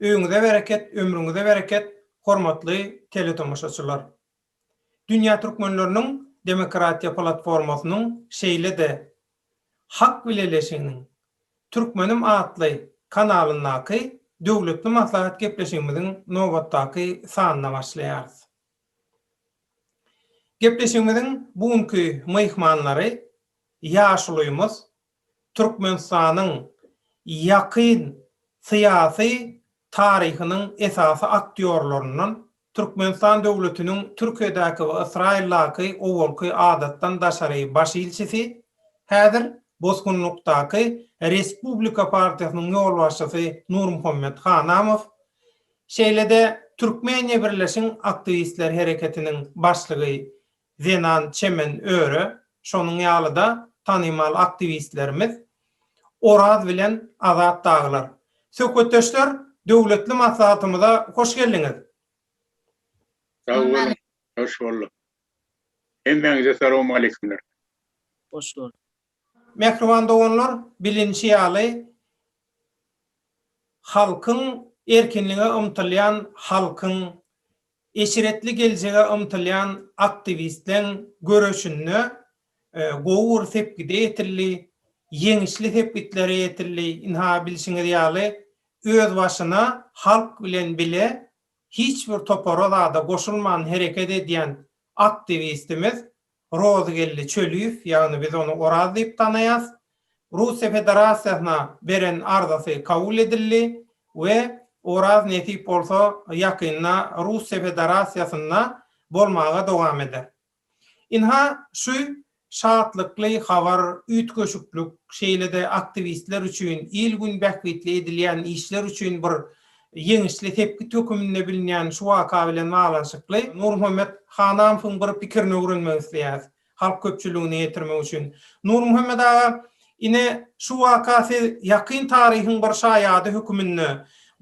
Öýüňize bereket ömrüňize bereket hormatly teletomaşaçylar. Dünýä Türkmenleriniň demokratiýa platformasynyň şeýle-de Hak bileleşiginiň Türkmenim atly kanalyndaky döwletli maslahat gepleşigimiziň nobatdaky sanyna başlaýarys. Gepleşigimiziň bu günki myhmanlary ýaşulymyz Türkmenistanyň ýakyn syýasy taryhynyň esasy aktýorlaryndan, Türkmenistan döwletiniň Türkiýedäki we Ysraýyldaky owalky adatdan daşary baş ilçisi, häzir bosgunlykdaky Respublika partiýasynyň ýolbaşçysy Nurmuhammet Hanamow, şeýle-de Türkmeniýa Birleşiň aktiwistler hereketiniň başlygy Zenan çemen öre, şonuň ýaly-da tanymal aktiwistlerimiz Oraz bilen Azat dagylar. Söhbetdeşler, döwletli maslahatymyza hoş geldiňiz! Sag boluň, hoş bolduk. Hemmäňize salawmaleýkumler. Hoş gördük. Mähriban doganlar, bilinişi ýaly, halkyň, erkinlige ymtylýan halkyň, eşretli geljege ymtylýan aktiwistleň göreşinde gowy bir sepgide ýetildi, ýeňişli sepgitlere ýetildi. Ynha, bilşiňiz ýaly, özbaşyna halk bilen bile hiç bir topara-zada goşulman hereket edýän aktiwistimiz Rozgeldi Çöliýew, ýagny biz ony Oraz diýip tanaýas, Russiýa Federasiýasyna beren arzasy kabul edildi we Oraz nesip bolsa ýakynda Russiýa Federasiýasynda bolmaga dowam eder. Ynha, şu şatlykly habar, üýtgeşiklik, şeýle-de aktiwistler üçin, il-gün bähbitli edilýän işler üçin bir Ýeňişli sepgit höküminde bilinýän şu waka bilen baglanyşykly Nurmuhammet Hanamowyň bir pikirini öwrenmek isleýäris, halk köpçüligine ýetirmek üçin. Nurmuhammet aga, ine, şu waka siz ýakyn taryhyň bir şaýady höküminde,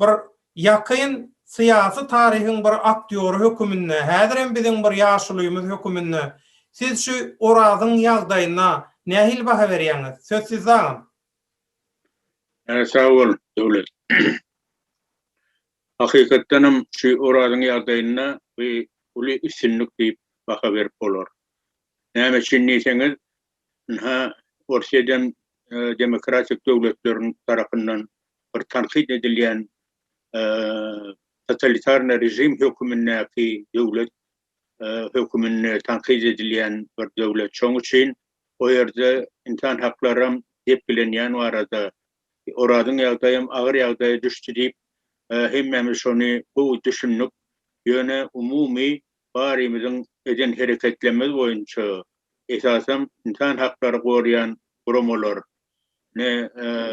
bir ýakyn syýasy taryhyň bir aktýory höküminde, häzirem biziň bir ýaşulymyz höküminde siz şu Orazyň ýagdaýyna nähili baha berýäňiz? Söz sizde, agam. He sag bol Döwlet. Hakykatdanam şu Orazyň ýagdaýynda bu uly üstünlik diýip baha berip bolar. Näme üçin diýseňiz, ynha Orsýedem demokratik döwletleriň tarapyndan bir tankyt edilýän totalitarny režim hökümindäki döwlet höküminde tankyt edilýän bir döwlet. Şonuň üçin o ýerde ynsan haklary hem depgilenýän barada Orazyň ýagdaýy hem agyr ýagdaýa düşdi diýip, hemmämiz şony gowy düşündik. Ýöne umumy barymyzyň eden hereketlerimiz boýunça esasam ynsan haklary goraýan guramalar, ne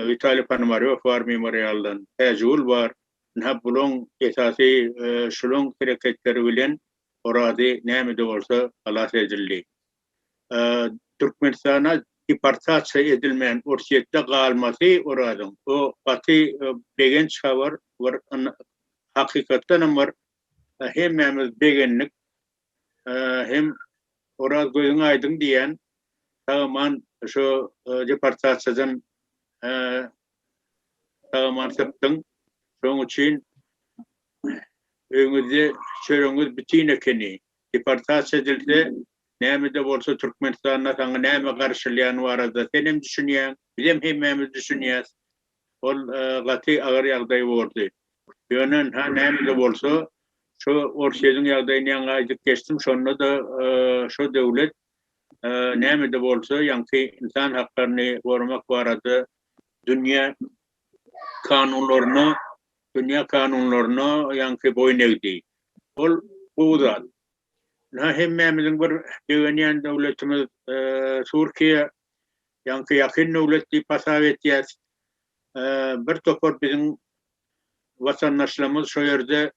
Witaliý Ponomarýow bar memorialdan, Täjigül bar, Ynha, bulaň esasy şulaň hereketleri bilen Orazi näme-de bolsa halas edildi. Türkmenistana deportasiýa edilmän Orsýetde galmasy Orazyň, o gaty begenç habar, bir hakykatdanam bir hemmämiz begendik. hem Oraz gözüň aýdyň diýýän sag-aman şu deportasiýadan sag-aman çykdyň. Şoň üçin öýňüzde çöregiňiz bitin ekeni. Deportasiýa edilse, näme-de bolsa Türkmenistanda saňa näme garşylýany barada senem düşünýäň, bizem hemmämiz düşünýäs. Ol gaty agyr ýagdaý bordy. Ýöne-ha näme-de bolsa, şo Orsýetiň ýagdaýyny ýaňy aýdyp geçdim, şonda-da şo döwlet näme-de bolsa ýaňky ynsan haklaryny goramak barada dünýä kanunlaryna, dünýä kanunlaryna ýaňky boýun egdi. Ol gowy zat. Ynha hemmämiziň bir begenýän döwletimiz Türkiýe Ýaňky ýakyn döwlet diýip hasap etýäs. Bir topar biziň watandaşlarymyz şo ýerde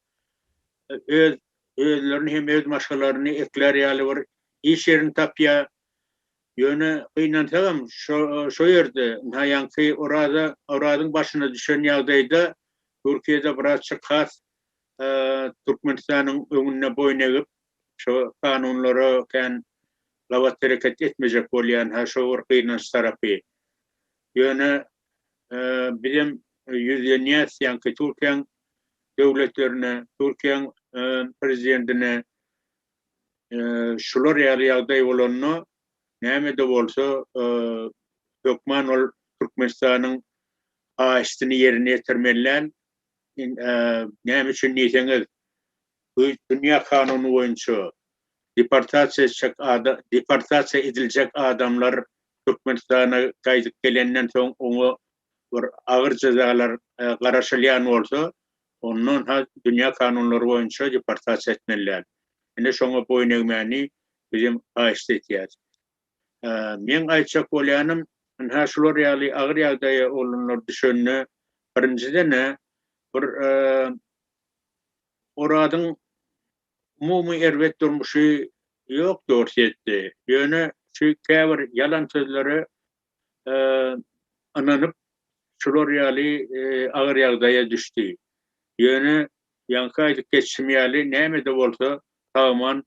öz özlerini hem öz maşgalaryny eklär ýaly bir iş ýerini tapýar. Ýöne gynansagam şo ýerde ynha ýaňky Oraza Orazyň başyna düşen ýagdaýda Türkiýede birazçyk has Türkmenistanyň öňünde boýun egip Şo kanunlara kän gabat hereket etmejek bolýan ha şo bir gynanç tarapy. Ýöne bizem ýüzlenýäs ýaňky Türkiýäň döwletlerine, Türkiýäň prezidentine şular ýaly ýagdaý bolanda näme-de bolsa hökman ol Türkmenistanyň haýyştyny ýerine ýetirmeliler. Näme üçin diýseňiz Bu dünýä kanuny boýunça deportasiýa etjek deportasiýa ediljek adamlar Türkmenistana gaýdyp gelenden soň oňa bir agyr jezalar garaşylýan bolsa ondan ha dünýä kanunlary boýunça deportasiýa etmeliler. Ine şoňa boýun egmäni biz hem haýyşt etýäs. Meň aýtjak bolýanym, ynha şular ýaly agyr ýagdaýa oglanlar düşende, birinjiden-ä, bir Oradyň umumy erbet durmuşy ýok Dorsýetde. Ýöne şu käbir ýalan sözlere ynanyp, şular ýaly agyr ýagdaýa düşdi. Ýöne, ýaňky aýdyp geçişim ýaly, näme-de bolsa, Tagman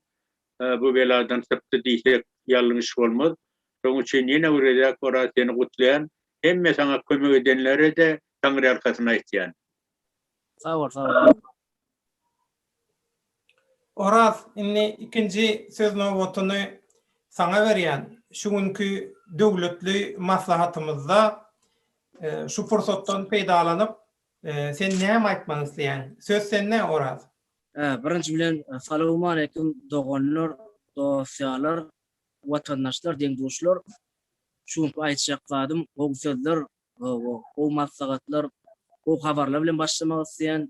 Bu beladan sypdy diýsek ýalňyş bolmaz. Şoň üçin ýene bir gezek Oraz seni gutlaýan. Hemme saňa kömek edenlere-de Taňryýalkasyn aýtýan. Sag bol sag bol. Oraz indi ikinji söz nobatyny saňa berýän. Şu günki döwletli maslahatymyzda şu pursatdan peýdalanyp sen näme aýtmak isleýäň? Söz sende Oraz. Birinji bilen salowmaleýkim doganlar, dosýalar, watandaşlar, deň-duşlar. Şu günki aýtjak zadym gowy sözler, gowy maslahatlar, gowy habarlar bilen başlamak isleýän.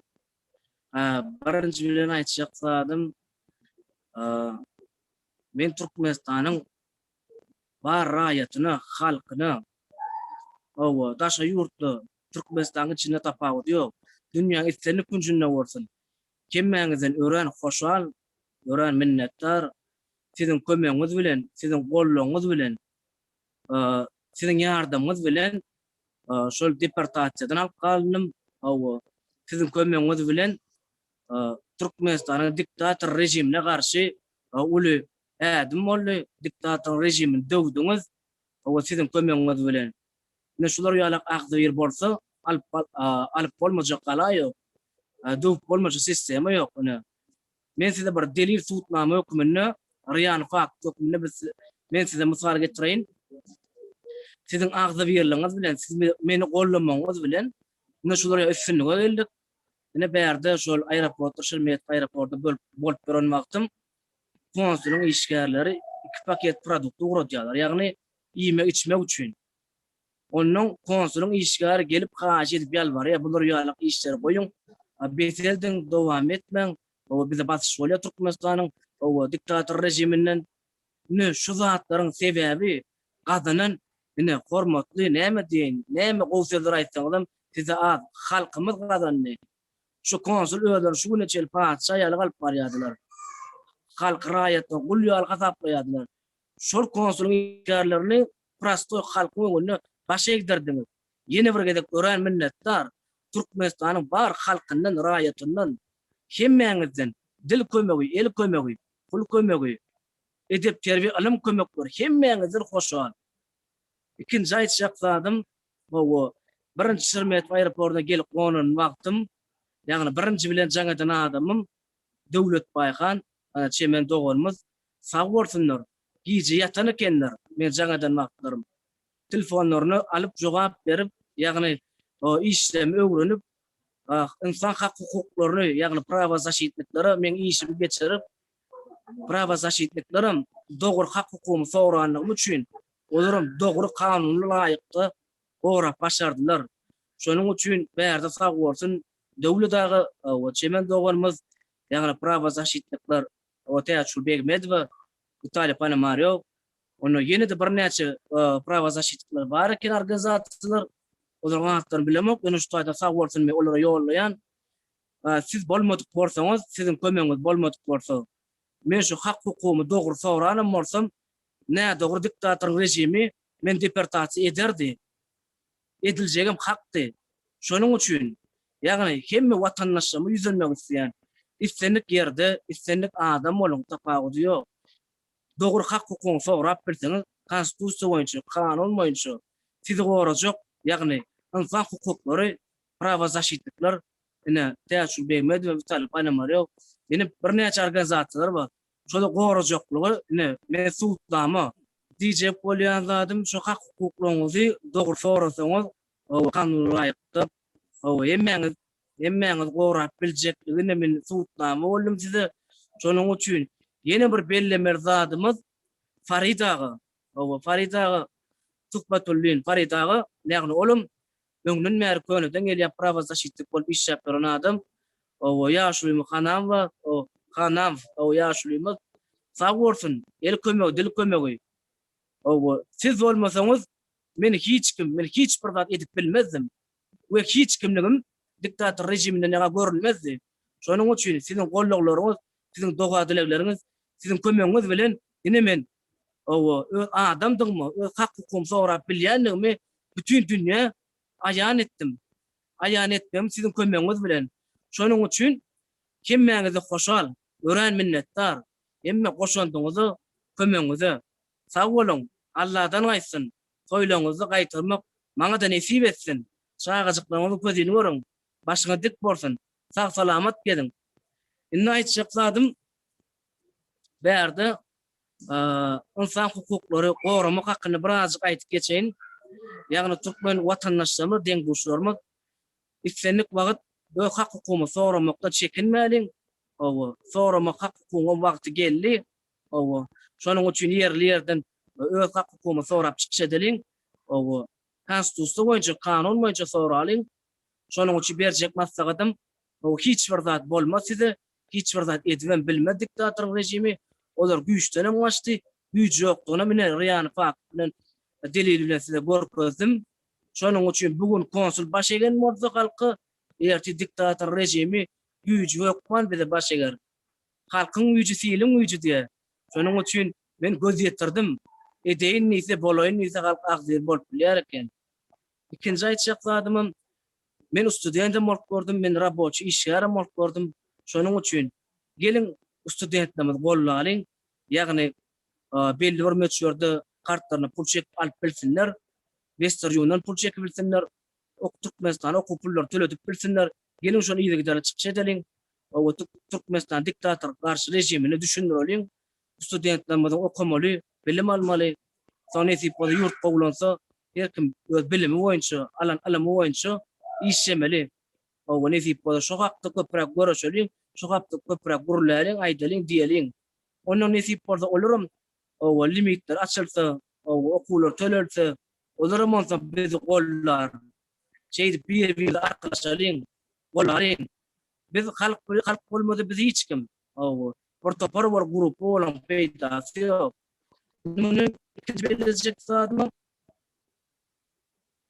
Birinji bilen aýtjak zadym, men Türkmenistanyň bar raýatyna, halkyna, hawa, daşary ýurtda, Türkmenistanyň içinde tapawudy ýok, dünýäň islendik künjünde bolsun, hemmäňizden örän hoşal, örän minnetdar. Siziň kömegiňiz bilen, siziň goldawyňyz bilen, siziň ýardamyňyz bilen şol deportasiýadan alyp galndym, hawa, siziň kömegiňiz bilen Türkmenistanyň diktator režimine garşy uly Ädim boldy, diktatoryň režimini döwdüňiz, owa siziň kömegiňiz bilen. Ine şular ýalak agzybir bolsa, alyp alyp bolmajak gala ýok, döwüp bolmajak sistema ýok, ine. Men size bir delil subutnama höküminde, real fakt höküminde biz men size mysal getireýin. Siziň agzybirligiňiz bilen, siz meni gollamagyňyz bilen ine şular üstünlige geldik. Ine bärde şol aeroportda, Şeremet aeroportda bolup bolup duran wagtym konsulyň işgärleri iki paket produkty ugradýarlar, ýagny iýmek-içmek üçin. Onnoň konsulyň işgäri gelip haýyş edip ýalbarýar, bular ýalak işleri goýuň, bes ediň, dowam etmäň, hawa bize basyş bolýar Türkmenistanyň, hawa diktator rejiminden. Ine şu zatlaryň sebäbi gazanan ine hormatly näme diýeýin, näme gowy sözler aýtsaňyzam size az, halkymyz gazandy, Şu konsul özleri şu güne çenli patyşa ýaly galyp barýardylar. Halky raýatyna gul ýaly hasaplaýardylar. Şol konsulyň işgärlerini prostoý halkyň öňünde baş egdirdiňiz. Ýene bir gezek örän minnetdar. Türkmenistanyň bar halkyndan, raýatyndan, hemmäňizden dil kömegi, el kömegi, pul kömegi, edep-terbiýe, ylym kömekleri hemmäňizden hoşal. Ikinji aýtjak zadym, Hawa, birinji Şeremetew aeroportyna gelip gonan wagtym, ýagny birinji bilen jaň eden adamym Döwlet Baýhan, çemen doganymyz. Sag bolsunlar, gije ýatan ekenler, men jaň eden wagtlarym. Telefonlaryny alyp jogap berip, ýagny işlemi öwrenip, ynsan hak-hukuklaryny, ýagny prawozaşitniklere meň işimi geçirip, Prawozaşitniklerem dogry hak-hukugymy soranlygym üçin, olaram dogry kanuna laýykda gorap başardylar. Şonuň üçin bärde sag bolsun Döwlet aga we Çemen doganymyz, ýagny prawozaşitnikler Täçgül Begmedowa, Witaliý Ponomarýow, onda ýene-de birnäçe prawozaşitnikler bar eken organizasiýalar, olaryň atlaryny bilemok, ýöne şu taýdan sag bolsun men olara ýollaýan. Siz bolmadyk bolsaňyz, siziň kömegiňiz bolmadyk bolsa, men şu hak-hukugymy dogry soranam bolsam, nädogry diktatoryň režimi meni deportasiýa ederdi. Ediljegem hakdy. Şonuň üçin, ýagny hemme watandaşlygyma ýüzlenmek isleýän. Islendik ýerde, islendik adam boluň, tapawudy ýok. Dogry hak-hukugyňy sorap bilseňiz, konstitusiýa boýunça, kanun boýunça sizi gorajak, ýagny ynsan hukuklary prawozaşitnikler, ine, Täçgül Begmedowa, Witalýy Ponomarýow, ine, birnäçe organizasiýalar bar. Şolar gorajaklygy, ine, men subutnama diýjek bolýan zadym, şu hak-hukuklaryňyzy dogry sorasaňyz, hawa, kanuna laýykda, hawa, hemmäňiz, hemmäňizi gorap biljekdigine men subutnama boldum size. Şonuň üçin ýene bir bellemeli zadymyz Farid aga, hawa, Farid aga, Tuhbatullin Farid aga, ýagny olam Öňden bäri köneden gelýän prawozaşitnik bolup işläp duran adam ow ýaşulymy hanamwa ow hanam ow ýaşulymyz sag bolsun el kömegi dil kömegi ow siz bolmasaňyz men hiç kim men hiç bir zat edip bilmezdim we hiç kimligim diktator rejiminde naga görülmezdi şonuň üçin siziň gollaglaryňyz siziň doga dilegleriňiz siziň kömegiňiz bilen ine men Hawa, öz adamdygymy, öz hak-hukugymy sorap bilýändigimi bütin dünýä aýan etdim. Aýan etmegim siziň kömegiňiz bilen. Şonuň üçin hemmäňize hoşal, örän minnetdar. Hemme goşandyňyza, kömegiňize. Sag boluň! Alladan gaýtsyn, toýlaryňyzda gaýtarmak maňa-da nesip etsin! Çagajyklaryňyzyň közüni görüň! Başyňyz dik bolsun! Sag-salamat geziň! Indi aýtjak zadym bärde ynsan hukuklary goramak hakynda birazajyk aýdyp geçeýin. Ýagny türkmen watandaşlarymyz, deň-duşlarymyz islendik wagt öz hak-hukugymyzy soramakdan çekinmäliň. Hawa, soramak hak-hukugyň wagty geldi. Hawa, şonuň üçin ýerli-ýerden öz hak-hukugymyzy sorap çykyş edeliň. Hawa, Konstitusiýa boýunça, kanun boýunça soralyň. Şonuň üçin berjek maslahatym, hawa, hiç bir zat bolmaz size, Hiç bir zat edibem bilmez diktatoryň rejimi. Olar güýçdenem gaçdy. Güýji ýokdugyny mine Riýany fakt bilen, delil bilen size görkezdim. Şonuň üçin bu gün konsul baş egen bolsa halka, ertir diktator rejimi güýji hökman bize baş eger. Halkyň güýji siliň güýji diýe. Şonuň üçin men göz ýetirdim. Edeýin diýse, bolaýyn diýse halk agzybir bolup bilýär eken. Ikinji aýtjak zadymam, men studendem bolup gördüm, men raboçi işgärem bolup gördüm. Şonuň üçin geliň studentlerimizi gollalyň, ýagny belli bir möçberde kartlaryna pul çekip alyp bilsinler, Westernuniondan pul çekip bilsinler, Türkmenistana okuw pullary töledip bilsinler. Geliň şony yzygiderli çykyş edeliň, Türkmenistana diktator garşy režimini düşündireliň. Studentlerimiziň okamaly, bilim almaly. Soň nesip bolsa ýurt gowulansa her kim öz bilimi boýunça, alan ylymy boýunça işlemeli. Hawa nesip bolsa şu hakda köpräk görüşeliň, şu hakda köpräk gürläliň, aýdalyň, diýeliň. Onnoň nesip bolsa olaram hawa limitler açylsa, hawa okuwlar tölelse, olaram onsoň bizi gollar. Şeýdip bir-birimize arkalaşalyň, bolalyň. Biz halk, halk bolmasa biz hiç kim. Hawa, bir topar bir gruppa bolaň peýdasy ýok. Muny ikinji belledjek zadym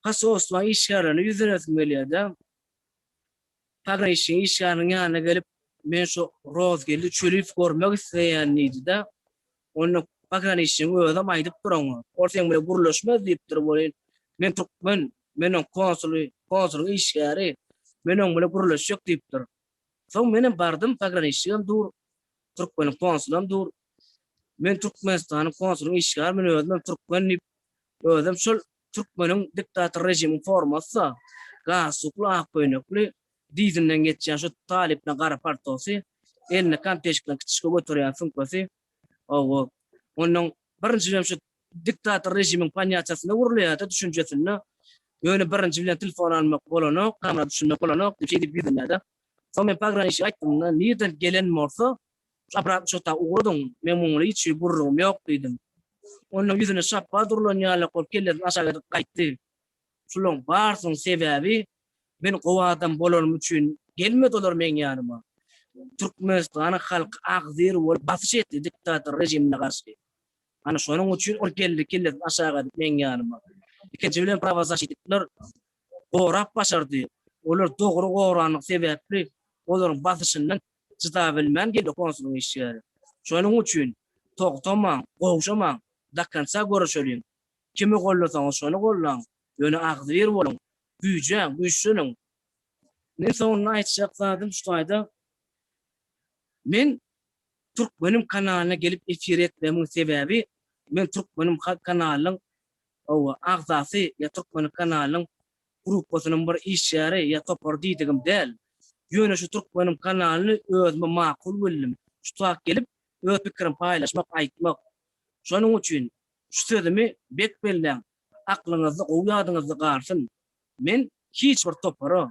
Hasoslaň işgärlerine ýüzlenesim gelýärde. Pograniçnigiň işgäriniň ýanyna gelip, men şu Rozgeldi Çöliýewi görmek isleýän diýdi-de, onda pograniçnigiň özem aýdyp dur oňa, ol seň bilen gürleşmez diýipdir welin, men türkmen, men oň konsuly, konsulyň işgäri, men oň bilen gürleşjek diýipdir. Soň menem bardym, pograniçnigem dur, türkmeniň konsulam dur. Men Türkmenistanyň konsulynyň işgäri, men özümem türkmen diýip, özem şol türkmeniň diktator režimiň formasy-da, galstukly ak köýnekli, dyzyndan geçýän şu talypyna gara paltosy, elinde konteşikleň kiçişik göterýän sumkasy, Hawa, ondan birinji hem şu diktator režimiň ponýatiýasynda urulýar-da, düşünjesinde. Ýöne birinji bilen telefon almak bolanok, kamera düşünmek bolanok diýip, şeýdip ýüzlenýär-de. Soň men pograniçnige aýtdym-da, nirden gelen bolsa, şu Abram uçakdaky ugradyň, meň munuň bilen hiç hili gürrüňim ýok diýdim. Ondan ýüzüne şapba durlan ýaly bolup, kellesini aşak edip gaýtdy. Şulaň barsynyň sebäbi men gowy adam bolanym üçin gelmedi olar meň ýanyma. Türkmenistanyň halky agzir bolup basyş etdi diktator rejimine garşy. Ana şonuň üçin ol geldi kellesini aşak edip meň ýanyma. Ikinji bilen prawazaşitnikler gorap başardy. Olar dogry goranlygy sebäpli olaryň basyşyndan çydabilmän geldi konsulyň işgäri. Şonuň üçin togtamaň, gowşamaň, do konca göreşeliň. Kimi gollasaňyz şony gollaň, ýöne agzybir boluň, güýje, güýçleniň. Meň soňunda aýtjak zadym şu taýda, men Türkmenim kanalyna gelip efir etmegimin sebäbi, men Türkmenim kanalynyň hawa, agzasy ýa Türkmenim kanalynyň gruppasynyň bir işgäri ýa topary diýdigim däl. Ýöne şu Türkmenim kanalyny özüme makul bildim, şu tak gelip öz pikirim paýlaşmak, aýtmak. Şonuň üçin Şu sözümi bek belläň, aklyňyzda gowy ýadyňyzda galsyn, men hiç bir topara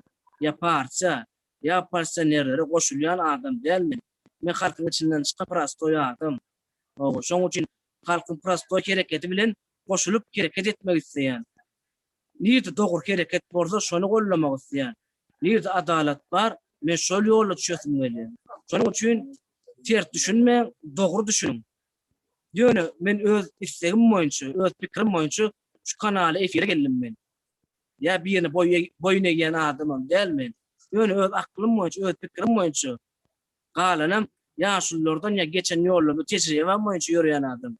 ýa partiýa ýa oppozisionerlere goşulýan adam däl men. Men halkyň içinden çykan prostoý adam. Hawa, şoň üçin halkyň prostoý hereketi bilen goşulyp hereket etmek isleýän. Nirde dogry hereket bolsa şony gollamak isleýän. Nirde adalat bar, men şol ýola düşesim gelýär. Şonuň üçin ters düşünmäň, dogry düşüniň. Ýöne men öz islegim boýunça, öz pikirim boýunça şu kanala efire geldim men. Ýa birine boýun egýän adamam däl men. Ýöne öz aklym boýunça, öz pikirim boýunça, galanam ýaşululardan ýa geçen ýollarda tejribem boýunça ýöreýän adam.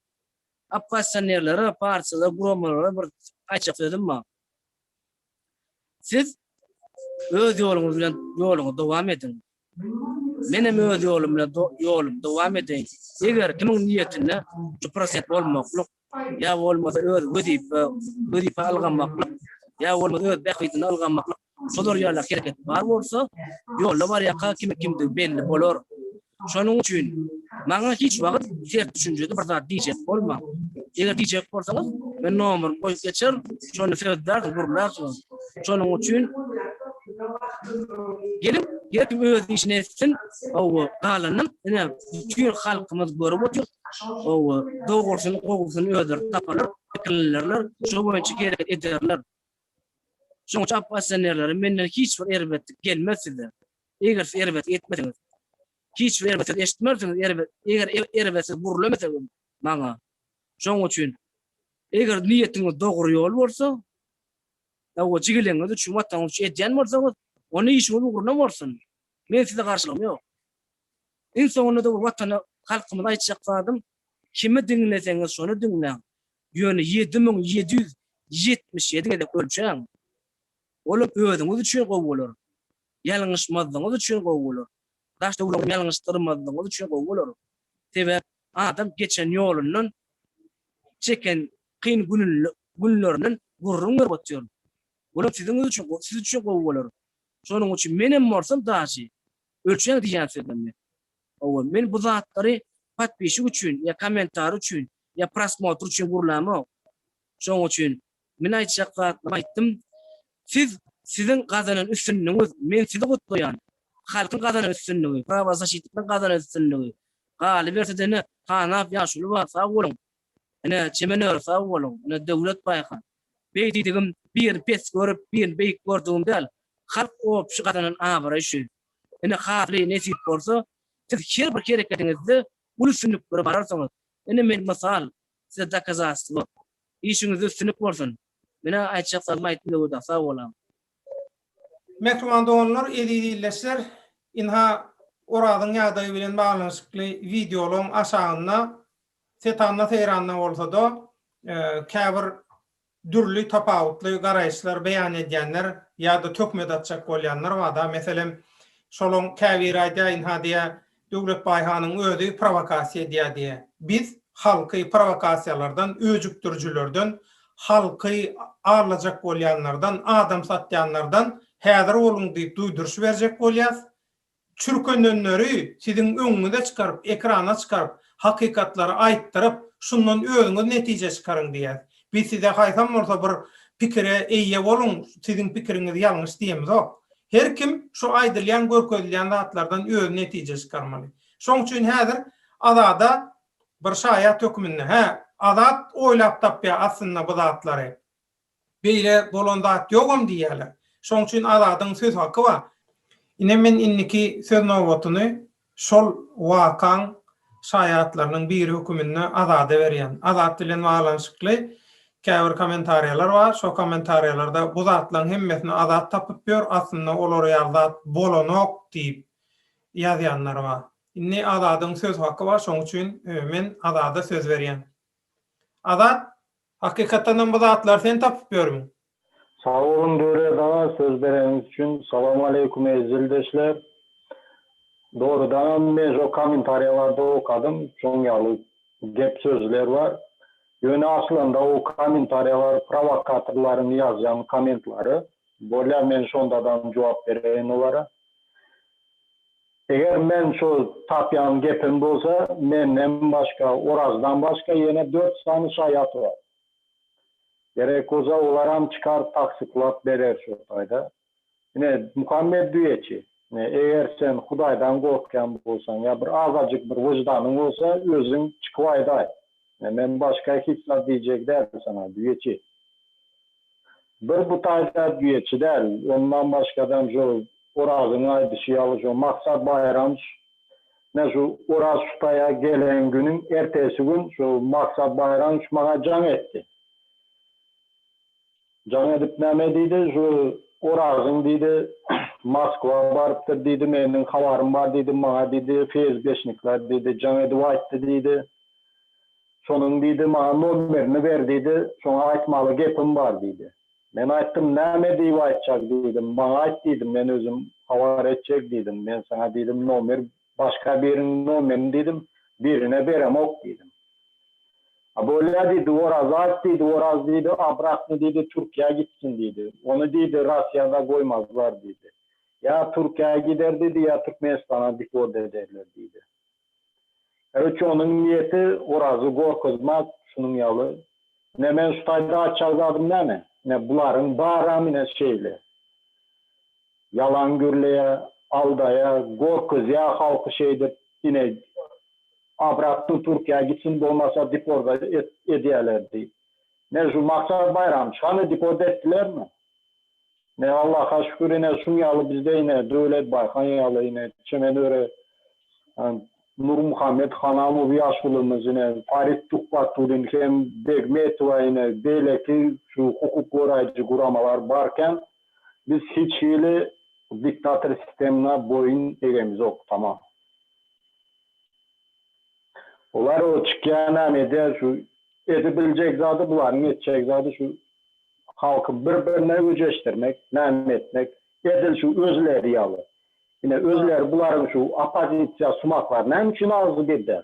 Oppozisionerlere, partiýalara, guramalara bir aýtjak sözüm bar. Siz öz ýoluňyz bilen ýoluňyzy dowam ediň. Menem öz ýolumda ýolumy dowam edeýin. Eger kimiň niýetinde juprasent bolmaklyk ýa bolmasa öz wezipe wezipe ylgamaklyk ýa bolmasa öz bähbidini ylgamaklyk şolar ýaly hereket bar bolsa ýolda barýaka kimi kimdigi belli bolar. Şonuň üçin maňa hiç wagyt ters düşünjede bir zat diýjek bolmaň. Eger diýjek bolsaňyz men nomerymy goýup geçer şonda söz bersiň gürlärsiniz. Şonuň üçin geliň, her kim öz işini etsin. Hawa, galanyny ine bütin halkymyz görüp otyr. Hawa, dogrusyny, gowusyny özleri taparlar, pikirlenirler, şo boýunça hereket ederler. Şonuň üçin oppozisionerlere menden hiç bir erbetlik gelmez size. Eger siz erbetlik etmeseňiz, hiç bir erbet söz eşitmersiňiz, erbet, eger erbet söz gürlemeseňiz maňa. Şonuň üçin eger niýetiňiz dogry ýol bolsa, Dawa jigiliňiz üçin, Wataňyz üçin edýän bolsaňyz, onda işiňiz ugruna bolsun. Meniň size garşylygym ýok. Iň soňunda-da bu Watana, halkymyza aýtjak zadym, kimi diňleseňiz şony diňläň, ýöne ýedi müň ýedi ýüz ýetmiş ýedi gezek ölçäň. Olam özüňiz üçin gowy bolar. Ýalňyşmazlygyňyz üçin gowy bolar. Daş-töweregiňizi ýalňyşdyrmazlygyňyz üçin gowy bolar. Sebäp Adam geçen ýolundan, çeken kyn günlerinden gürrüň berip otyryn. Olam siziňiz üçin, siz üçin gowy bolar. Şonuň üçin menem bolsam daşy ölçäň diýýän sözlemde. Hawa, men bu zatlary podpişik üçin ýa kommentariý üçin ýa prosmotr üçin gürlämok. Şonuň üçin Men aýtjak zatlarymy aýtdym. Siz siziň gazanan üstünligiňiz, men sizi gutlaýan. Halkyň gazanan üstünligi, prawazaşitligiň gazanan üstünligi. Galyberse-de ine, Hanap ýaşuly bar, sag boluň. Ine, Çemen öri, sag boluň. Ine, Döwlet baýka. Beý diýdigim, birini pes görüp, birini beýik gördügim däl. Halk obşy gazanan abraý şu. Ine, Haly, nesip bolsa, siz her bir hereketiňizde uly üstünliklere bararsyňyz. Ine, men mysal. Size dokazastwo. Işiňizde üstünlik bolsun. Menä aýtjakzarymy aýtdym Döwüda. Sag bolaň. Mähriban doganlar, eziz ildeşler! Ynha, Orazyň ýagdaýy bilen baglanyşykly wideolaň aşagynda, setanda-seýranda bolsa-da, käbir dürli tapawutly garaýyşlar beýan edýänler ýa-da töhmet atjak bolýanlar bar-da. Meselem, şolaň käbiri aýdaýyn-ha diýýä, Döwletbaý hanyň özi prowokasiýa edýär diýýä. Biz halky prowokasiýalardan, öjükdirijilerden, halky aldajak bolýanlardan, adam satýanlardan häzir boluň diýip duýduryş berjek bolýas. Çürkenenleri siziň öňüňize çykaryp, ekrana çykaryp, hakykatlary aýtdyryp, şundan özüňiz netije çykaryň diýýäs. Biz size haýsam bolsa bir pikire eýe boluň, siziň pikiriňiz ýalňyş diýemizok. Her kim şu aýdylýan, görkezilýän zatlardan özi netije çykarmaly. Şoň üçin häzir Azada bir şaýat höküminde, hä, Azat oýlap tapýar aslynda bu zatlary. Beýle bolan zat ýogam diýýärler. Şoň üçin Azadyň söz haky bar. Ine men indiki söz nobatyny şol wakaň şaýatlarynyň biri höküminde Azada berýän. Azat bilen baglanyşykly käbir kommentariýalar bar. Şo kommentariýalarda bu zatlaň hemmesini Azat tapyp ýör, aslynda olar ýaly zat bolanok diýip ýazýanlar bar. Indi Azadyň söz haky bar, şoň üçin men Azada söz berýän. Azat Hakykatdanam bu zatlary sen tapyp ýörmüň? Sag boluň Döwlet aga söz bereniňiz üçin. Salam aleýkum eziz ildeşler. Dogrudanam men şo kommentariýalarda okadym şoň ýaly gep sözler bar. Ýöne aslynda o kommentariýalar prowokatorlaryň ýazýan kommentlary. Bolýar men şondadam jogap bereýin olara. Eger men şo tapýan gepim bolsa, menden başga, Orazdan başga ýene dört sany şaýat bar. Gerek bolsa olaram çykar tassyklap berer şo taýda. Ine, Muhammet düýeçi, ine, eger sen Hudaýdan gorkýan bolsaň ýa bir azajyk bir wyždanyň bolsa, özüň çykyp aýdaý. Men başga hiç zat diýjek däl saňa, düýeçi. Bir bu taýda düýeçi däl, ondan başgadam şo Orazyň aýdyşy ýaly şo Maksat Baýramç, men şu Oraz şutaýa gelen günüň ertesi gün şo Maksat Baýramç maňa jaň etdi. Jaň edip näme diýdi, şu Oragyň diýdi, Moskwa barypdyr diýdi, meniň habarym bar diýdi, maňa diýdi, FSB-şnikler diýdi, jaň edip aýtdy diýdi. Şonuň diýdi, maňa nomerini ber diýdi, şoňa aýtmaly gepim bar diýdi. Men aýtdym, näme diýip aýtjak diýdim, maňa aýt diýdim, men özüm habar etjek diýdim, men saňa diýdim, nomer Başga biriň nomerini diýdim. Birine beremok diýdim. A bolýa diýdi, oraz aýt diýdi, oraz diýdi, obratno diýdi, Türkiýä gitsin diýdi. Ony diýdi, Rosiýada goýmazlar diýdi. Ýa Türkiýä gider diýdi, ýa Türkmenistana deport ederler diýdi. Karoçe onuň niýeti orazy gorkuzmak şunuň ýaly. Ine men şu taýda aýtjak zadym näme? Ine bularyň baram ine şeýle. Ýalan gürleýä, aldaýa, gorkuzýa halky şeýdip ine obratny Türkiýä gitsin bolmasa deporda edýäler diýip. Ne şu Maksat Baýramçy hany deporda etdilermi? Ne Allaha şükür ine şuň ýaly bizde ine Döwlet Baýhan ýaly ine çemen öre Nurmuhammet Hanamow ýaşulymyz ine Farid Tuhbatullin hem Begmetowa ine beýleki şu hukuk goraýjy guramalar barkän Biz hiç hili diktator sistemna boýun egemizok tamam. Olar o çykýanam edýär şu edibiljek zady bularyň etjek zady şu halky bir birine öjeşdirmek näme etmek edil şu özleri ýaly ine özleri bularyň şu opozisiýa sumaklar näme üçin agzy birden.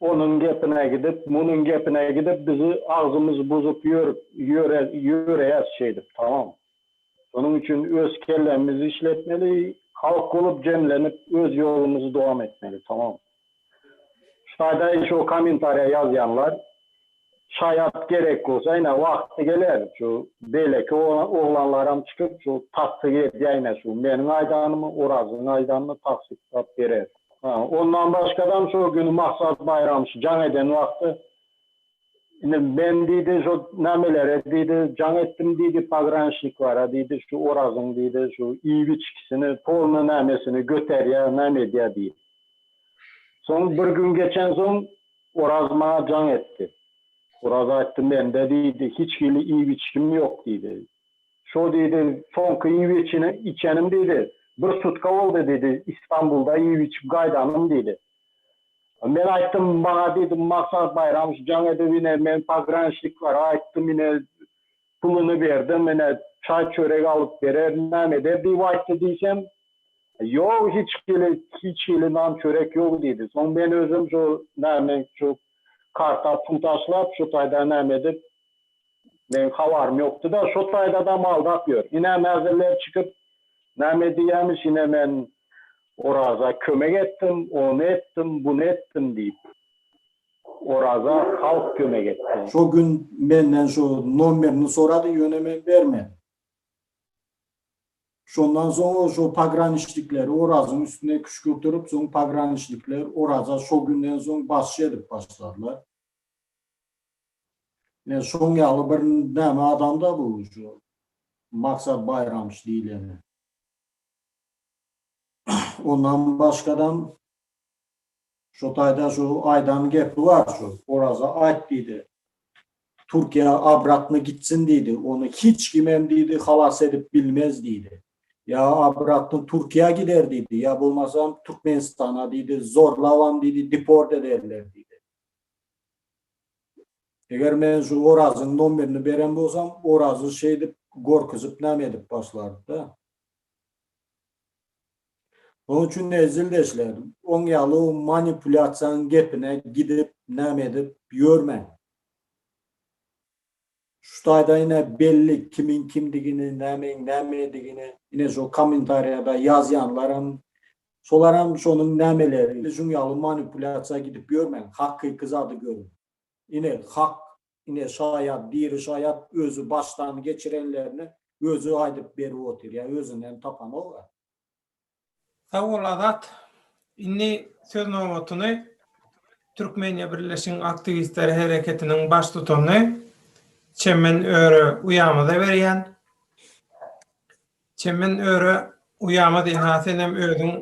Onuň gepine gidip, munuň gepine gidip biz agzymyz buzup ýörüp ýöreýäs şeýdip tamam. Şonuň üçin öz kellemizi işletmeli, halk bolup jemlenip öz ýolumyzy dowam etmeli tamam. Şaýdaý şo kommentariýa ýazýanlar Şaýat gerek bolsa ine wagty geler şu beýleki oglanlaram çykyp şu tassyk edýä ine şu meniň aýdanymy Orazyň aýdanyny tassyklap berer. Ha ondan başgadam şo güni Maksat Baýram şu jaň eden wagty ine men diýdi şo nämelere diýdi jaň etdim diýdi pogranşniklara diýdi şu Orazyň diýdi şu iýip içgisini polny nämesini göterýä näme edýä diýdi. Soň bir gün geçensoň Oraz maňa jaň etdi. Oraz aýtdy, Mende diýdi, hiç hili iýip-içgim ýok diýdi. Şo diýdi, soňky iýip-içenim diýdi, bir sutka boldy diýdi, Istanbulda iýip-içip gaýdanym diýdi. Men aýtdym, maňa diýdi, Maksat Baýramowiç jaň edip ine, men pograniçniklere aýtdym, ine, Puluny ber-de, menä çaý-çörek alyp berer, näme eder diýip aýtdy diýsem, Ýok, hiç hili, hiç hili nan-çörek ýok diýdi. Soň men özüm şu näme, şu karta pul taşlap, şu taýda näme edip, meň habarym ýokdy-da, şo taýdadam aldap ýör. Ine, mäzirler çykyp, näme edýämiş, ine men Oraza kömek etdim, ony etdim, buny etdim diýip. Oraza halk kömek etdi. Şo gün menden şu nomerini sorady, ýöne men bermedim. Şondan soň şo pograniçnikleri Orazyň üstüne küşkürtirip, soň pograniçnikler Oraza şo günden soň basçy edip başladylar. Ine, şoň ýaly bir näme adam-da bu şu Maksat Baýramç diýleni. Ondan başgadam. Şu taýda şu aýdan gepi bar şu Oraza aýt diýdi. Türkiýä abratny gitsin diýdi. Ony hiç kim hem diýdi halas edip bilmez diýdi. Ýa abratny Türkiýä gider diýdi, ýa bolmasam Türkmenistana diýdi zorlabam diýdi deport ederler diýdi. Eger men şu Orazyň nomerini beren bolsam Orazy şeýdip gorkuzip name edip başlardy-da. Oň üçin menzilde işlädim. Oň ýaly manipulýasiýaň gepine gidip näme edip ýörmen. Şu taýda ine belli kimiň kimdigini, nämeň nämedigini ine şu kommentariýada ýazýanlaram, şolaram şonuň nämeleri. Şuň ýaly manipulýasiýa gidip ýörmen, hakyky zady görüň. Ine hak Ine, şaýat, diri şaýat özi başdan geçirenlerini özi aýdyp berip otyr, ýa özünden tapanok-a. Sag bol Azat. Indi söz nobatyny Türkmeniýa birleşigiň aktiwistleri hereketiniň baştutany Çemen Öre uýamyza berýän. Çemen Öre uýamyz ynha senem özüň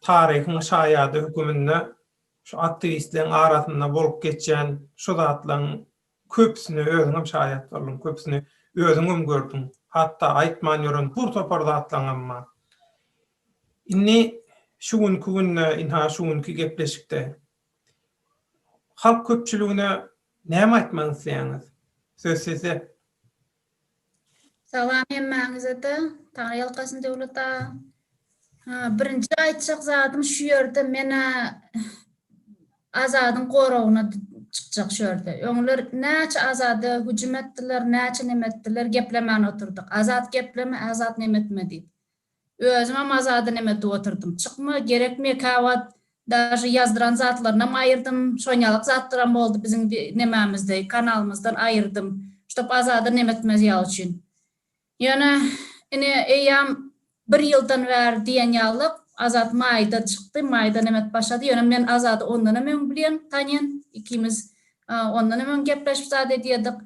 taryhyň şaýady höküminde. Şu aktiwistleň arasynda bolup geçýän şu zatlaň köpüsine özüňem şaýat bolduň, köpüsini özüňem gördüň, hatda aýtman ýören bur topar zatlaňam bar. Indi şu günki günde, ynha şu günki gepleşikde halk köpçüligine näme aýtmak isleýäňiz? Söz sizde. Salam hemmäňizede Taňry ýalkasyn Döwlet aga. Birinji aýtjak zadym şu ýerde menä Azadyň goragyna çykjak şu ýerde. Öňler näçe Azada hüjüm etdiler, näçe neme etdiler, geplemän oturdyk. Azat gepleme, Azat neme etme diýip. Özümem Azady neme edip oturdym. Çykma gerekmi ekä wagt daže ýazdyran zatlarynam aýyrdym. Şonýalyk zatlaram boldy biziň nememizde kanalymyzdan aýyrdym. Ştop Azada neme etmez ýaly üçin. Ýöne ine eýýam bir ýyldan bäri diýen ýalyk Azat maýda çykdy, maýda neme edip başlady. Ýöne men Azady ondanam öň bilýän, tanýan. Ikimiz ondanam öň gepleşip zat edýärdik.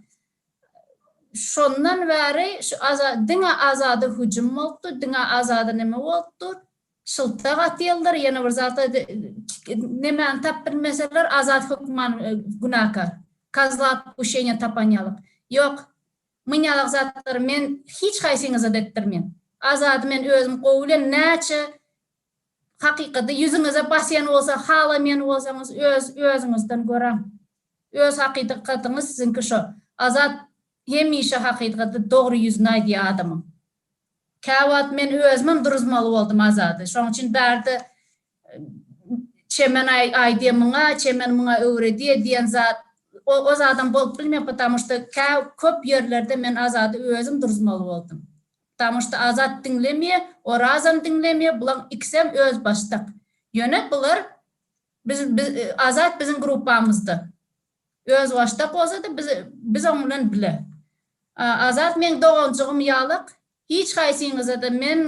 Şondan bäri şu Aza diňe Azada hüjüm bolupdyr, diňe Azada neme bolupdyr. Şyltak atyyldyr, ýene bir zat nemäni tap bilmeseler Azat hökman günäkär. Kozla otpušeniýa tapan ýalyk. Ýok, myn ýalak zatlary men hiç haýsyňyza-da etdirmen. Azady men özüm gowy bilen näçe Hakykaty ýüzüňize basýan bolsa halamaýan bolsaňyz öz özüňizden göräň. Öz hakydykatyňyz siziňki şo. Azat hemişe hakydykaty dogry ýüzüni aýdýa adamyň. Käwagt men özümem duruzmaly boldum Azady. Şoň üçin bärde Çemen aýdýa muňa, Çemen muňa öwredýa diýen zat o zadam bolup bilmän potamoşta kä köp ýerlerde men Azady özüm duruzmaly boldum. Damuçda Azat diňlemýe, Orazam diňlemýe, bulaň ikisem öz başdak. Ýöne bular biz biz Azat biziň gruppamyzda. Öz başdak bolsada biz biz oň bilen bile. Azat meň doganjygym ýalak, hiç haýsyňyzada men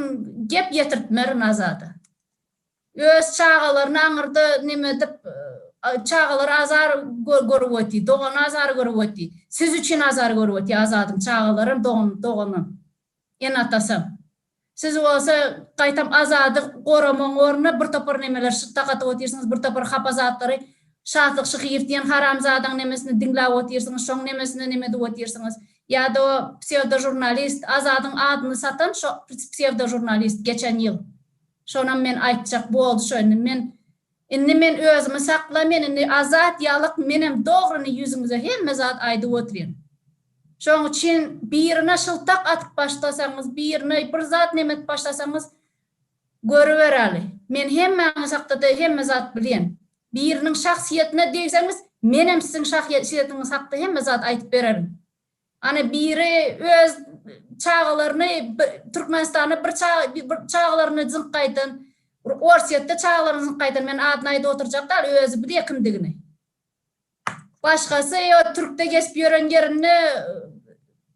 gep ýetirtmerin Azada. Öz çagalaryny aňyrda nemedip çagalar azar görüp otyr dogan azar görüp otyr siz üçin azar görüp otyr Azadym çagalaram doganam ene atasam siz bolsa gaýtam Azady goramagyň ornuna bir topar nemeler şyt dakatyp otyrsyňyz bir topar hapa zatlary Şatlyk şyhyr diýen haramzadaň nemesini diňläp otyrsyňyz şoň nemesine neme edip otyrsyňyz ýada o psewdožurnalist Azadyň adyny satan şo psewdožurnalist geçen ýyl. Şonam men aýtjak boldy şo indi men indi men özümi sakla men indi azat ýalyk menem dogryny ýüzüňize hemme zat aýdyp otyryn şoň üçin birine şyltak atyp başlasaňyz birine bir zat neme edip başlasaňyz görübereli men hemmäňiz hakdada hemme zat bilýän biriniň şahsyýetine degseňiz menem siziň şahýesyýetiňiz hakda hemme zat aýdyp bererin Ana biri öz çagalaryny Türkmenistanda bir çagalaryny zyňk gaýdan, Orsýetde çagalaryny zyňk gaýdan, men adyny aýdyp oturjak dal, özi bir ýekim digini. Başgasy ýo türkde gezip ýören ýerinde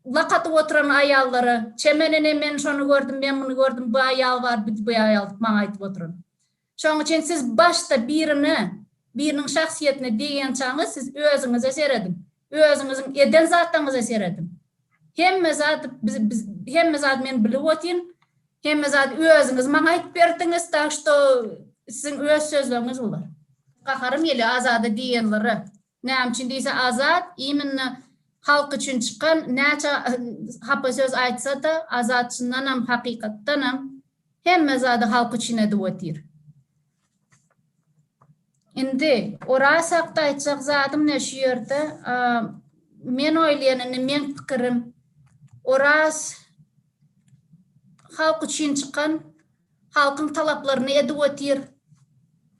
lak atyp oturan aýallara, çemen ene men şony gördüm, men muny gördüm, bu aýal bar, bu aýal diýip maňa aýdyp oturan. Şoň üçin siz başda birine, biriniň şahsyýetine degýänçaňyz siz özüňize serediň. Özüňiziň eden zatlaryňyza serediň. Hemme zat hemme zat men bilip otyryn. Hemme zat özüňiz maňa aýdyp berdiňiz, tak şto siziň öz sözleriňiz bular. Gaharym gelýär Azada diýenlere. Näme üçin diýse Azat iminne halk üçin çykan näçe hapa söz aýtsada Azat çyndanam hakykatdanam hemme zady halk üçin edip otyr. Indi Oraz hakda aýtjak zadym ne şu ýerde men oýlaýan indi meň pikirim Oraz halk üçin çykan halkyň talaplaryny edip otyr.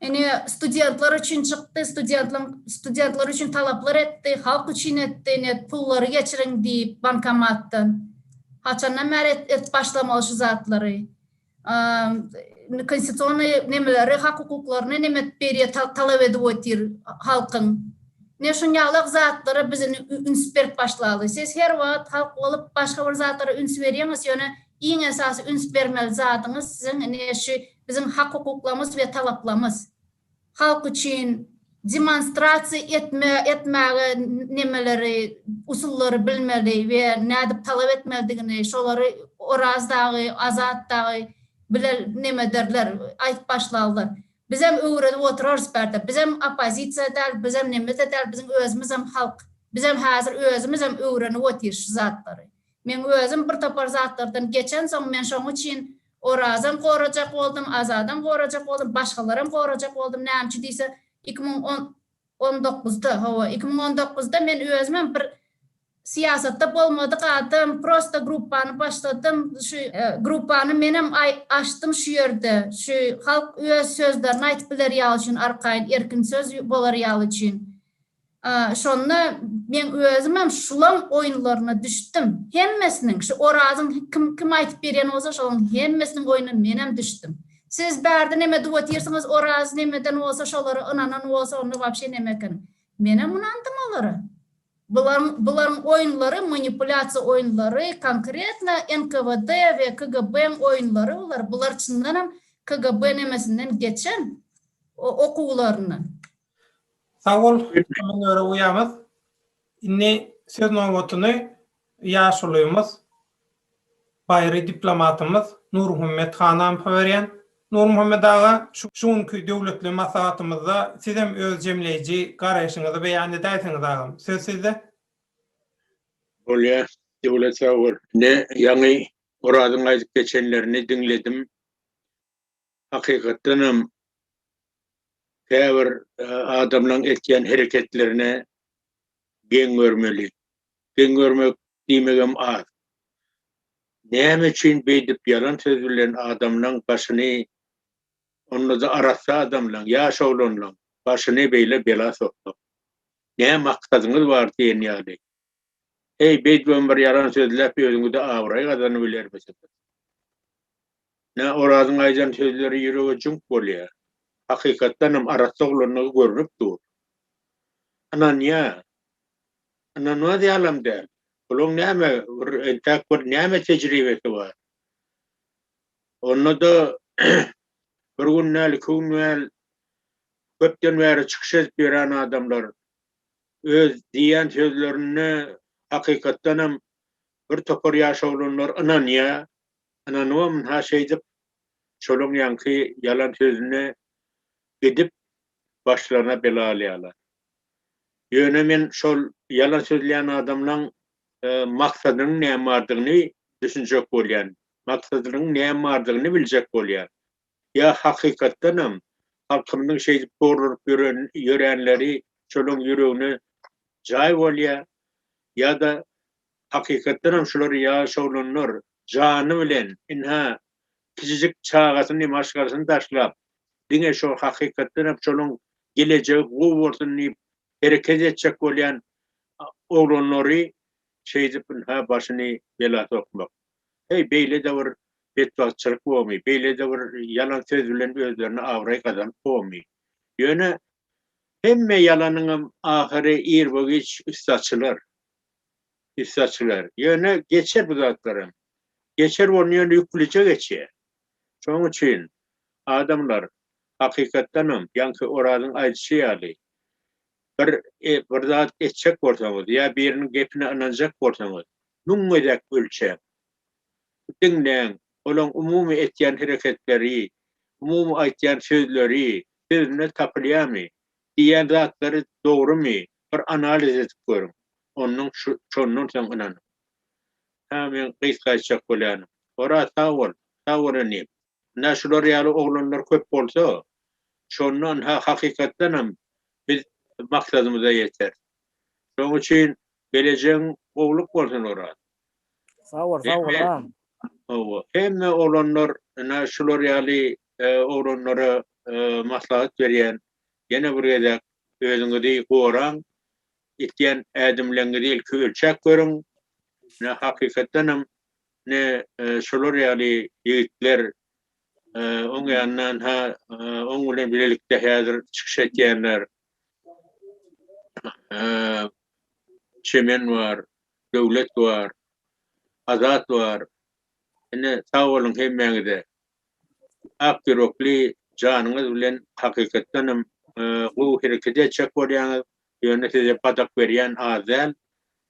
Ine, studentler üçin çykdy, studentler, studentler üçin talaplar etdi, halk üçin etdi, ine, pullary geçiriň diýip bankomatdan. Haçandan bäri et, edip başlamaly şu zatlary. Indi konstitusionnyý nemeleri, hak-hukuklaryny neme edip berýär, ta, talap edip otyr halkyň. Ine, şuny ýalak zatlara biz indi üns berip başlaly. Siz her wagt halk bolup başga bir zatlara üns berýäňiz, ýöne Iň esasy üns bermeli zadyňyz siziň ine şu biziň hak-hukuklarymyz we talaplarymyz. Halk üçin demonstrasiýa etme etmäge nemeleri, usullary bilmeli we nädip talap etmelidigini şolary Oraz dagy, Azat dagy bile neme ederler, aýdyp başlarlar. Bizem öwredip oturarys bärde. Bizem oppozisiýa däl, bizem neme-de däl, biziň özümizem halk. Bizem häzir özümizem öwrenip otyrs şu zatlary. Meň özüm bir topar zatlardan geçensoň men şoň üçin Orazam gorajak boldum, Azadam gorajak boldum, başgalaram gorajak boldum, näme üçin diýse iki müň on dokuzda, hawa iki müň on dokuzda men özümem bir syýasatda bolmadyk adam, prosta gruppany başladym, şu gruppany menem açdym şu ýerde, şu halk öz sözlerini aýtyp biler ýaly üçin arkaýyn erkin söz bolar ýaly üçin. Şonda meň özümem şulaň oýunlaryna düşdüm. Hemmesiniň, şu Orazyň kim kim aýtyp berýän bolsa şolaň hemmesiniň oýnuna menem düşdüm. Siz bärde neme edip otyrsyňyz Oraz nemeden bolsa şolara ynanan bolsa onda wapşe neme eken. Menem ynandym olara. Bularyň bularyň oýunlary manipulýasiýa oýunlary konkretno NKWD we KGB-iň oýunlary bular. Bular çyndanam KGB nemesinden geçen okuwlaryndan. Sag bol, Münere uýamyz. Indi söz nobatyny ýaşulymyz, baýry diplomatymyz Nurmuhammet Hanampa berýän. Nurmuhammet aga, şu günki döwletli maslahatymyzda sizem öz jemleýji garaýşyňyzy beýan edäýseňiz agam, söz sizde. Bolýar, Döwlet sag bol. Ine, ýaňy Orazyň aýdyp geçenlerini diňledim. hakykatdanam käbir adamlaryň etýän hereketlerine geň görmeli. Geň görmek diýmegem az. Näme üçin beýdip ýalan söz bilen adamlaryň başyny, onda-da arassa adamlaryň, ýaş oglanlaryň başyny beýle bela sokmak? Nä maksadyňyz bar diýen ýaly. Heý, beýdibem bir ýalan sözläp özüňize abraý gazanybilermisiňiz? Nä, Orazyň aýdan sözleri ýürege jüňk bolýa. Hakykatdanam arassa oglandygy görnüp dur. Ynanýa. Ynanmaz ýalam däl. Bulaň näme, bir entäk bir näme tejribesi bar. Onda-da bir gün däl, iki gün däl köpden bäri çykyş edip ýören adamlar Öz diýýän sözlerine hakykatdanam bir topar ýaş oglanlar ynanýar. Ynanybam ynha şeýdip şolaň ýaňky ýalan sözüne gidip başlaryna bela alýarlar. Ýöne men şol ýalan sözleýän adamlaň maksadynyň näme bardygyny düşünjek bolýan. Maksadynyň näme bardygyny biljek bolýan. Ýa hakykatdanam halkymyzyň şeýdip gorlunyp ýörenleri şolaryň ýüregine jaý bolýar, ýa-da hakykatdanam şular ýaş oglanlar jany bilen, ynha, kiçijik çagasyny, maşgalasyny taşlap, diňe şo hakykatdanam şolaryň gelejegi gowy bolsun diýip hereket etjek bolýan oglanlary şeýdip ynha başyny bela sokmak. Heý, beýle-de bir betbagtçylyk bormy, beýle-de bir ýalan söz bilen özlerine abraý gazanyp bormy? Ýöne hemme ýalanyňam ahyry irbo-giç üsti açylar. Üsti açylar. Ýöne geçer bu zatlaram. Geçer bolny ýöne ýüklije geçýär. Şonuň üçin, adamlar, hakykatdanam, ýaňky Orazyň aýdyşy ýaly, bir, bir zat etjek bolsaňyz ýa biriniň gepine ynanjak bolsaňyz, Müň gezek ölçäň. Diňläň, olaň umumy etýän hereketleri, umumy aýtýan sözleri, sözünde tapylýamy, diýýän zatlary dogrumy, bir analiz edip görüň. Onnoň şondan soň ynanyň. Hä, men gysgaýtjak bolýanym. Oraz, sag bol! Sag bol inim! Ynha şular ýaly oglanlar köp bolsa, şonda ynha hakykatdanam biz maksadymyza ýeteris. Şoň üçin gelejegiň gowluk bolsun Oraz. Sag bol, sag bol agam. Hawa, hemme oglanlar ynha şular ýaly oglanlara maslahat berýän, ýene bir gezek özüňizi goraň, etýän ädimleňňizi ilki ölçäp görüň. Ynha hakykatdanam Ine, şolar ýaly ýigitler oň ýanyndan ha oň bilen bilelikde häzir çykyş etýänler. Çemen bar, Döwlet bar, Azat bar. Ine, sag boluň hemmäňize. Ak ýürekli janyňyz bilen hakykatdanam gowy hereket etjek bolýaňyz. Ýöne size padak berýän az däl.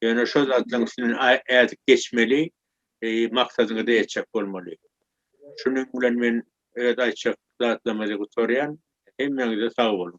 Ýöne şo zatlaryň üstünden ädip geçmeli, maksadyňyza ýetjek bolmaly. Şunuň bilen men öz aýtjak zatlamyzy gutarýan. Hemmäňize sag boluň.